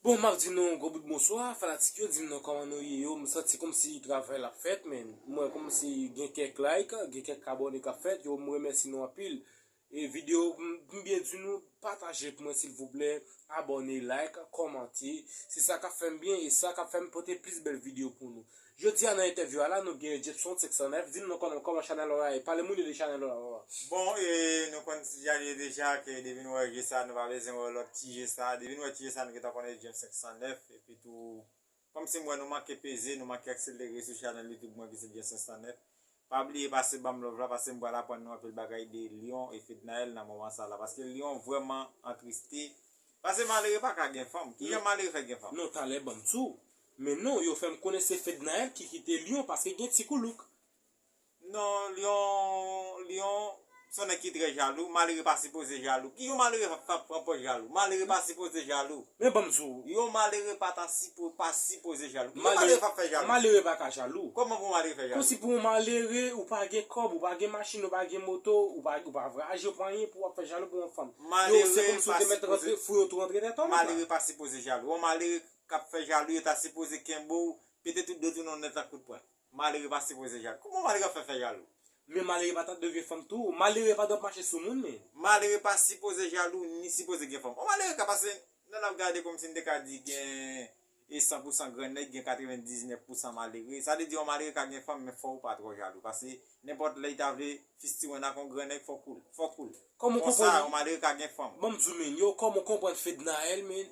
Bon map di nou yon gwo bout bonswa fanatik yo dim non kòman nou ye yo m santi kòmsi travay la ap fèt men m wè kòmsi gen kèk like gen kèk abòne kap fèt yo m remèsi nou anpil e video m byen di nou pataje pou mwen silvouplè abòne like kòmante se sa kap fèm byen e sa kap fèm pote plis bèl video pou nou Jodi a nan entèvyou a la nou gen Jepson 509 di nou konnen koman chanèl ou a ye pale moun yo de chanèl ou a. Bon e nou konn ti djal ye deja ke depi nou wè je sa nou pa bezwen wè lòt ti je sa depi nou wè ti je sa nou gentan konnen James 509 epi tou kòmsi m wè nou manke peze nou manke akselere sou chanèl youtube mwen ki se James 509 Pa bliye pase banm love la pase m pral aprann nou anpil bagay de Lion e Fednaelle nan moman sa la paske Lion vrèman antriste pase malere paka gen fanm kijan malere fè gen fanm. Non talè banm tou. Men non yo fèm konnen se Fednaelle ki kite Lion paske gen ti koulouk. Non Lion Lion Son nèg ki trè jalou, malere pa sipoze jalou. Ki yon malere k ap pran pòz jalou? Malere pa sipoze jalou. Men banm di w. Yon malere pa ta sipo, pa sipoze jalou. Ki yon malere k ap fè jalou? Malere pa ka jalou. Kòman pou yon malere fè jalou? Konsi pou yon malere, ou pa gen kòb, ou pa gen machin, ou pa gen moto, ou pa ou pa vwayaje, ou pa anyen pou w ap fè jalou pou yon fanm. Malere pa sipoze. Yo se kòm si w te mèt rantre, fouye w tou rantre dèyè tòlèt la. Malere pa sipoze jalou. Yon malere k ap fè jalou yo ta sipoze kenbe w, pete tout dent ou nan nèt la kout pwen. Malere pa sipoze jalou. Kouman malere ap fè fè jalou? Men malere pa ta dwe gen fanm tou. Malere pa dwe ap mache sou moun men. Malere pa sipoze jalou ni sipoze gen fanm. Yon malere ka pase nan l ap gade kòmsi n te ka di gen e san pou san gran nèg gen katrevendiznèf pou san malere. Sa vle di yon malere ka gen fanm men fò ou pa twò jalou pase nenpòt lè li ta vle fistiwenn ak yon gran nèg fò kou l. Konsa yon malere ka gen fanm. Banm di w men yo kòman w konprann Fednaelle men